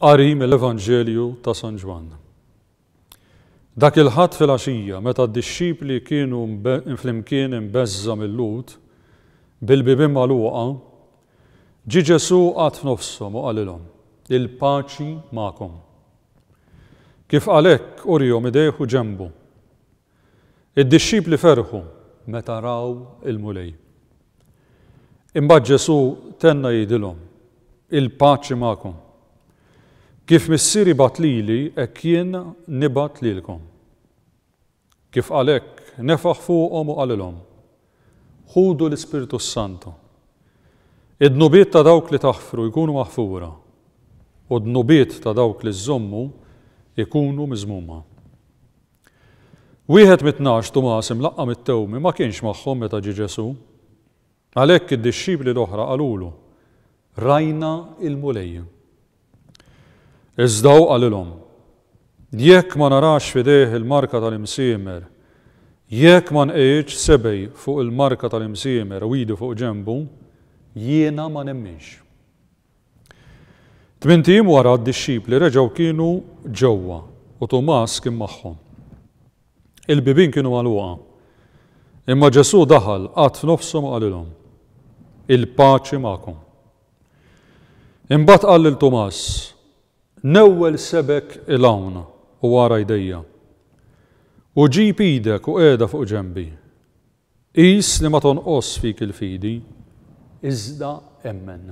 Qari mill-Evanġelju ta' San Ġwann. Dak il-Ħadd filgħaxija meta d-dixxipli kienu flimkien imbeżża' mill-Lhud, bil-bibien magħluqa, ġie Ġesù qagħad f'nofshom u qalilhom, Il-paċi magħkom. Kif qal hekk, urihom idejh u ġenbu. Id-dixxipli ferħu meta raw il-Mulej. Imbagħad Ġesù tenna jgħidilhom, Il-paċi magħkom. Kif Missieri bagħat lili, hekk jien nibgħat lilkom. Kif qal hekk, nefaħ fuqhom u qalilhom, Ħudu l-Ispirtu s-Santu. Id-dnubiet ta' dawk li taħfru jkunu maħfura, u d-dnubiet ta' dawk li żżommu jkunu miżmuma. Wieħed mit-tnax, Tumas, imlaqqam it-tewmi, ma kienx magħhom meta ġie Ġesù. Għalhekk id-dixxipli l-oħra qalulu, Rajna l-Mulej. Iżda hu qalilhom, Jekk ma narax f'idejh il-marka tal-imsiemer, jekk ma nqegħidx sebgħi fuq il-marka tal-imsiemer u idi fuq ġenbu, jiena ma nemminx. Tmint ijiem wara d-dixxipli reġgħu kienu ġewwa u Tumas kien magħhom. Il-bibien kienu magħluqa. Imma Ġesù daħal, qagħad f'nofshom u qalilhom, Il-paċi magħkom. Imbagħad qal lil Tumas, Newwel sebgħek 'il hawn u ara jdejja. U ġib idek u qiegħda fuq ġenbi. Qis li ma tonqosx fik il-fidi, iżda emmen.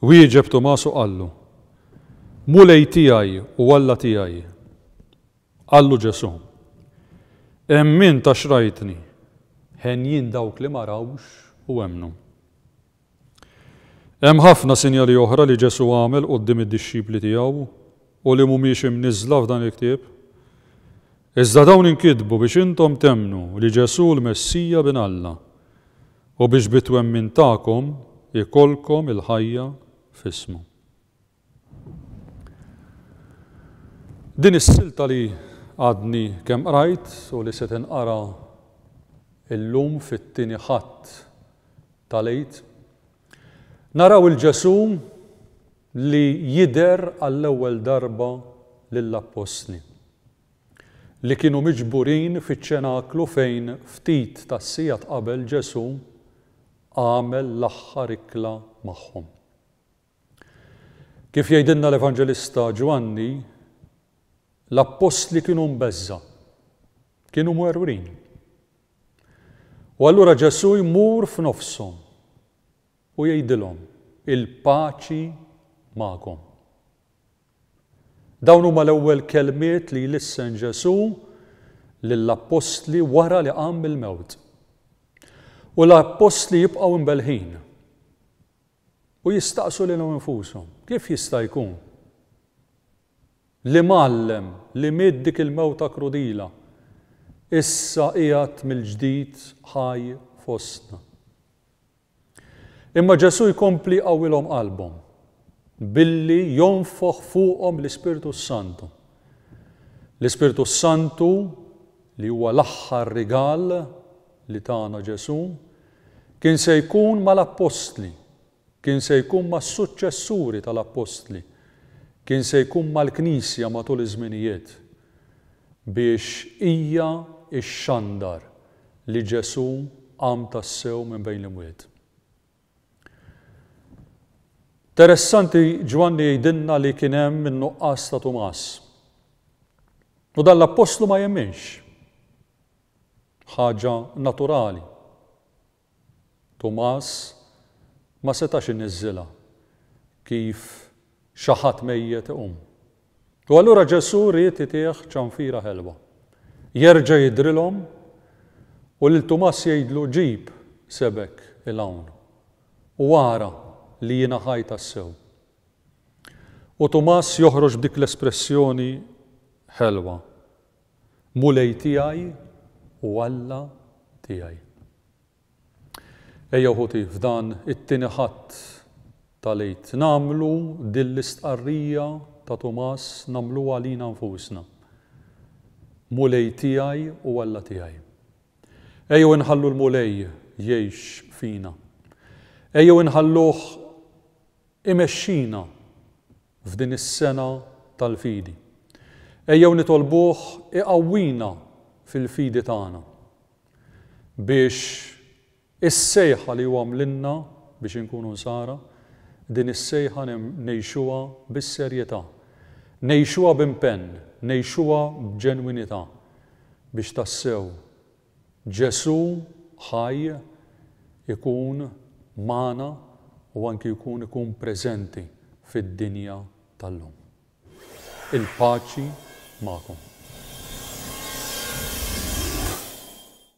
Wieġeb Tumas u qallu, Mulej tiegħi u Alla tiegħi! Qallu Ġesù, Emmint għax rajtni, henjin dawk li ma rawx u emmnu. Hemm ħafna sinjali oħra li Ġesù għamel quddiem id-dixxipli tiegħu u li mhumiex imniżżla f'dan il-ktieb. Iżda dawn inkitbu biex intom temmnu li Ġesù l-Messija Bin Alla, u biex bit-twemmin tagħkom ikollkom il-ħajja f'ismu. Din is-silta li għadni kemm qrajt u li se tinqara llum fit-Tieni Ħadd tal-Għid, naraw 'il Ġesù li jidher għall-ewwel darba lill-Appostli, li kienu miġburin fiċ-Ċenaklu fejn ftit tas-sigħat qabel Ġesù għamel l-aħħar ikla magħhom. Kif jgħidilna l-Evanġelista Ġwanni, l-appostli kienu mbeżża', kienu mwerwrin. U allura Ġesù jmur f'nofshom u jgħidilhom, il-paċi magħkom. Dawn huma l-ewwel kelmiet li jlissen Ġesù lill-appostli wara li qam mill-mewt. U l-appostli jibqgħu mbelħin. u jistaqsu lilhom infushom, Kif jista' jkun li mgħallem li miet dik il-mewta krudila issa qiegħed mill-ġdid ħaj fostna? Imma Ġesù jkompli jqawwilhom qalbhom billi jonfoħ fuqhom l-Ispirtu s-Santu. L-Ispirtu s-Santu li huwa l-aħħar rigal li tana Ġesù, kien se jkun mal-appostli, kien se jkun mas-suċċessuri tal-appostli, kien se jkun mal-Knisja matul iż-żminijiet, biex hija xxandar li Ġesù qam tassew minn bejn l-imwiet. Teressanti Ġwanni jgħidilna li kien hemm in-nuqqas ta' Tumas. U dan l-appostlu ma jemminx. Ħaġa naturali. Tumas ma setax iniżżilha kif xi ħadd mejjet iqum. U allura Ġesù ried itih ċanfira ħelwa. Jerġa' jidhrilhom u lil Tumas jgħidlu, Ġib sebgħek 'il hawn u ara li jiena ħaj tassew. U Tumas joħroġ b'dik l-espressjoni ħelwa, Mulej tiegħi u Alla tiegħi. Ejjew ħuti f'dan it-Tieni Ħadd tal-Għid nagħmlu din l-istqarrija ta' Tumas nagħmluha lina nfusna, Mulej tiegħi u Alla tiegħi. Ejjew inħallu l-Mulej jgħix fina. Ejjew inħalluh imexxina f'din is-sena tal-fidi. Ejjew nitolbuh iqawwina fil-fidi tagħna. biex is-sejħa li hu għamlilna biex inkunu Nsara, din is-sejħa ngħixuha bis-serjetà, ngħixuha b'impenn, ngħixuha b'ġenwinità, biex tassew Ġesù ħaj ikun magħna u anki jkun ikun preżenti fid-dinja tal-lum. Il-paċi magħkom.